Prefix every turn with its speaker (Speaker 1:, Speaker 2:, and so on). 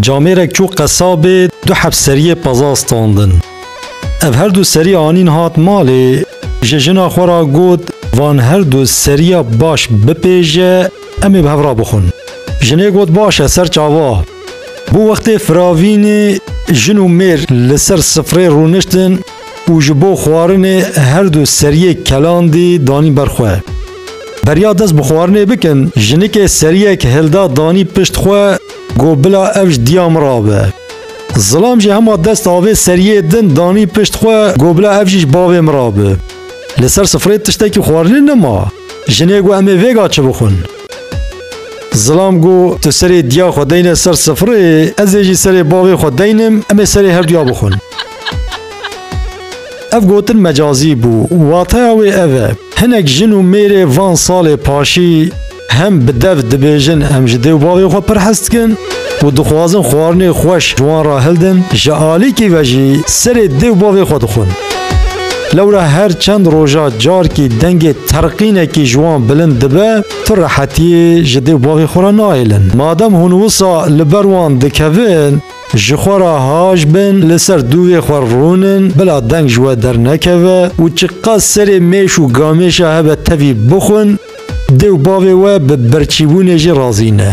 Speaker 1: Camêrek çû qesabê du heb seriyê peza standin. Ev her du serî anîn hat malê ji jina xwe ra got van her du seriya baş bipêje em ê bi hev ra bixwin. Jinê got baş e ser çava. Bû wextê firavînê jin û mêr li ser sifrê rûniştin û ji bo xwarinê her du seriyê kelandî danî ber xwe. Beriya dest bi xwarinê bikin, jinikê seriyek hilda danî pişt xwe got bila ev ji diya min re be. Zilam jî hema dest avê seriyê din danî pişt xwe got bila ev jî ji bavê min re be. Li ser sifrê tiştekî xwarinê nima. Jinê got em ê vêga çi bixwin. Zilam got tu serê diya xwe deyne ser sifrê, ez ê jî serê bavê xwe deynim, em ê serê her duya bixwin. Ev gotin mecazî bû. Wateya wê ev e. Hinek jin û mêrê van salê paşî hem bi dev dibêjin em ji dê û bavê xwe pir hez dikin û dixwazin xwarinê xweş ji wan re hildin, ji alîkî ve jî serê dê û bavê xwe dixwin. Lewra her çend roja carkî dengê terqînekî ji wan bilind dibe, tu rehetiyê ji dê û bavê xwe re nahêlin. Madem hûn wisa li ber wan dikevin, Ji xwe re haj bin, li ser dûvê xwe rûn in, bila deng ji we dernekeve û çiqas serê mêş û gamêşa hebe tevî bixwin, dê û bavê we bi birçîbûnê jî razî ne.